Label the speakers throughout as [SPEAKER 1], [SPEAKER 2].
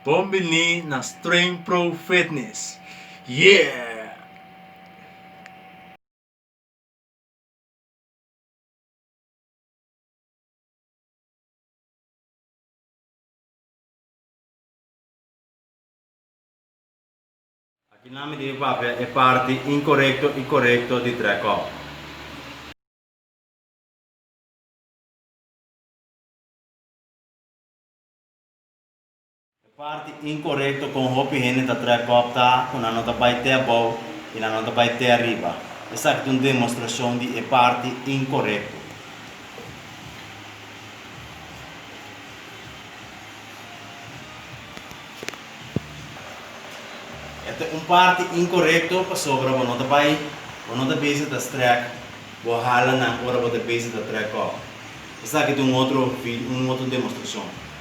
[SPEAKER 1] Bon bini na Streng Pro Fitness! Yeah! Aki nan mi debe papia e parti inkorekto i korekto di Drekop. E parti inkorekto kon hopi hende ta trae kòp ta ku nan no ta bai te abou i nan no ta bai te ariba. Esaki ta un demostrashon di e parti inkorekto. E ta un parti inkorekto pasobra bo no ta bai, bo no ta bisa ta strek, bo hala nan ora bo ta bisa ta trae kòp. Esaki ta un otro, un otro demostrashon.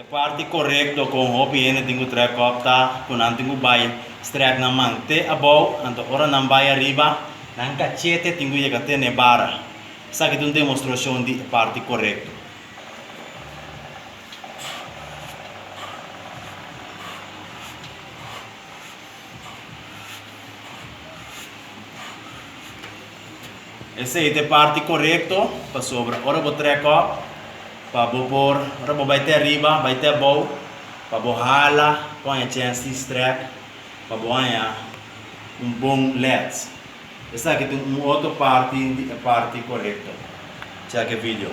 [SPEAKER 1] E parti korekto ku un hopi hende tin ku trèk kòp ta ku nan tin ku bai strèk nan man te abou, anto ora nan bai ariba, nan kachete tin ku yega te n'e bara. Esaki ta un demostrashon di e parti korekto. Esei ta e parti korekto, pasobra ora bo trek òf, pa bo por, ora bo bai te ariba, bai te abou, pa bo hala ku haña chènsti strèk, pa bo haña un bon lèt. Esaki ta un otro parti di e parti korekto. Chèk e video.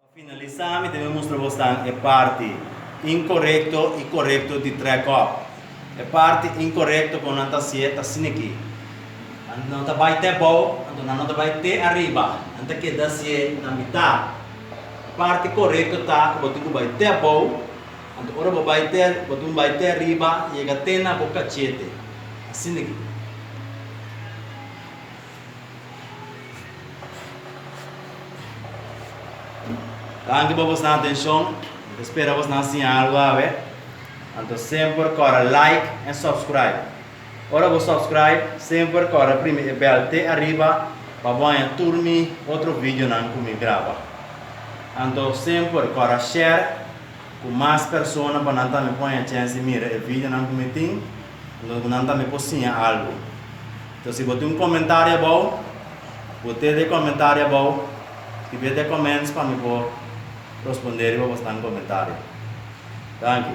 [SPEAKER 1] Pa finalisá mi ta bin mustra bosnan e parti inkorekto i korekto di trèk-òf. E parti inkorekto kon nan ta hasié ta sin'akí. Nan no ta bai te bou, anto nan no ta bai te ariba. Nan ta keda hasié na mitá. E parti korekto ta ku bo tin ku bai te bou, anto ora bo bai te, bo tin ku bai te ariba yega te na bo kachete. Asin'akí. Danki pa bosnan atencion. Mi ta spera bosnan a siña algu awe. Anto semper kòrda like en subscribe. Ora bo subscribe, semper kòrda primi e bèl te ariba pa bo haña tur mi otro videonan ku mi graba. Anto semper kòrda share ku mas persona pa nan tambe por haña chèns di mira e videonan ku mi tin. Lo ku nan tambe por siña algu. Enton si bo tin un komentario abou, bo tret e komentario abou, skibi e te comments pa mi por rospondé riba bosnan komentario. Danki.